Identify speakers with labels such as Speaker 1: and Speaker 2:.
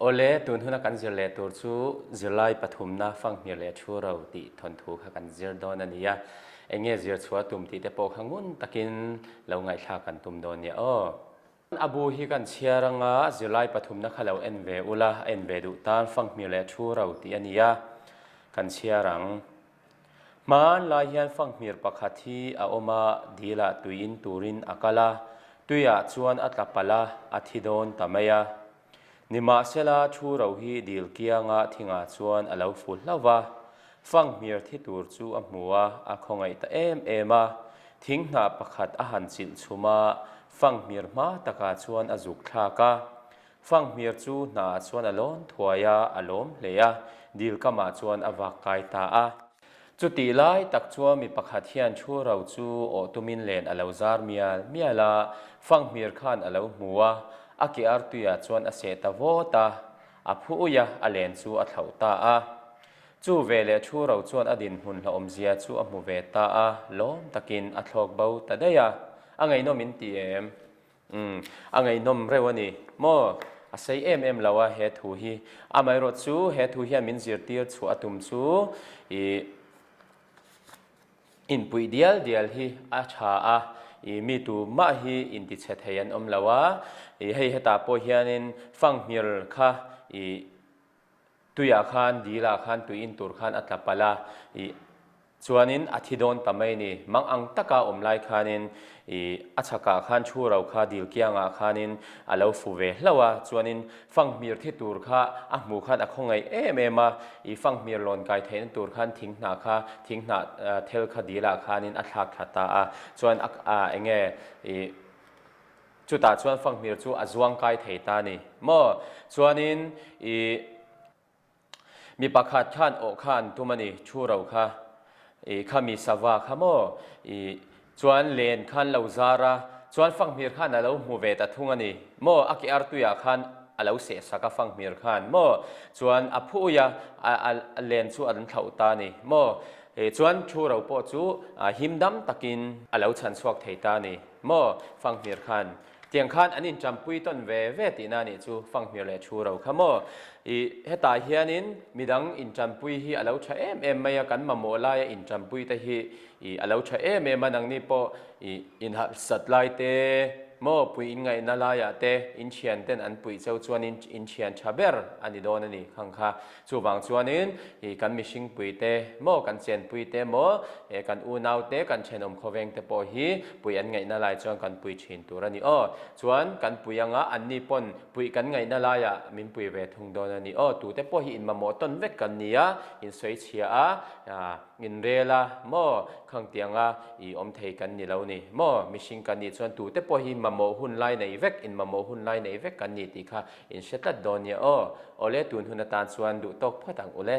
Speaker 1: Awle, tunhuna kan zir leh tur chu zirlai pathumna, fanghmir leh thu ro tih thawnthu kha kan zir dawn a ni a, eng nge zir chhuah tum tih te pawh kha ngun takin lo ngaihthlak kan tum dawn nia aw. A bu hi kan chhiar anga zirlai pathumna kha lo en ve ula, a en ve duh tan fanghmir leh thu ro tih a ni a, kan chhiar ang. Hmanlai hian fanghmir pakhat hi a awm a, dila tui in turin a kal a, tuiah chuan a tla palh a, a thi dawn ta mai a. Nimahsela, thu ro hi dil kianga thingah chuan a lo ful hlauh a, fanghmir thi tur chu a hmu a, a khawngaih ta em em a, thing hna pakhat a han chilh chhum a, fanghmir hma takah chuan a zuk thlak a, Fanghmir chu hna ah chuan a lawn thuai a, a lawm hle a, dil kam ah chuan a vak kai ta a. Chutih lai tak chuan mi pakhat hian thu ro chu awh tum in len a lo zar mial mial a, Fanghmir khan a lo hmu a, a ke ar tui ah chuan a seh ta vawt a, a phuui a, a len chu a thlauh ta a. Chu ve leh thu ro chuan a dinhmun hlauhawmzia chu a hmu ve ta a, lawm tak in a thlawk bo ta daih a, a ngeihnawm in ti em? Umm, a ngaihnawm reuh a ni maw? A sei em em lo a he thu hi. Amaherawh chu he thu hian min zirtir chhuah a tum chu ih inpuih dial dial hi a tha a, ih mi tu mah hi intichhe thei an awm lo a, ih hei hetah pawh hianin fanghmir kha ih. Tuiah khan Dila khan tui in tur khan a tla palh a, ih, chuanin a thi dawn ta mai ni. Mang ang taka awm lai khanin, ih, a chhakah khan thu ro kha dil kiangah khanin a lo fu ve hlauh a, chuanin fanghmir thi tur kha a hmuh khan a khaw ngaih em em a, ih, fanghmir lawn kai theihna tur khan thing hnah kha, thing hnah, aa, thel kha Dila khanin a thlak thla ta a, chuan a, aa, enge, ih, Chutah chuan fanghmir chu a zuang kai thei ta ni maw? Chuanin i mi pakhat khan awh kha an tum a ni, thu ro kha i khami sava kha maw i chuan len khan lo zar a, chuan fanghmir khan a lo hmu ve ta thung a ni maw? A ke artuiah khan a lo sehsak a fanghmir khan maw? Chuan a phu uia a len chu a thlauh ta ni maw? Chuan thu ro pawh chu him dam takin a lo chhan chhuak thei ta ni. Maw Fanghmir khan tiang khan an inchampui tawn ve ve tihna a nih chu Fanghmir leh thu ro kha maw i hetah hianin midang inchampui hi a lo tha em em mai a kan mamawh laia inchampui te hi i a lo tha em em a nangni pawh i inhalhsat lai te maw pui inngaihna laiah te inthian ten an puih cheu chuan in inthian tha ber a ni dawn a ni khang kha. Chuvang chuanin i kan mihringpui te maw, kan chenpui te maw, e kan unau te, kan thenawm khawveng te pawh hi pui an ngaihna lai chuan kan pui thin tur a ni aw. Chuan kan pui anga anni pawn pui kan ngaihna laiah min pui ve thung dawn a ni aw. Tute pawh hi inmamawh tawn vek kan ni a, in sawi chhia a, in rel a maw, khang tianga i awm thei kan ni lo ni maw, mihring kan nih chuan tute pawh hi mamawh hun lai nei vek, in mamawh hun lai nei vek kan ni tih kha In hre tlat dawn nia aw. Awle tun hun atan chuan duh tawk phawt ang ule.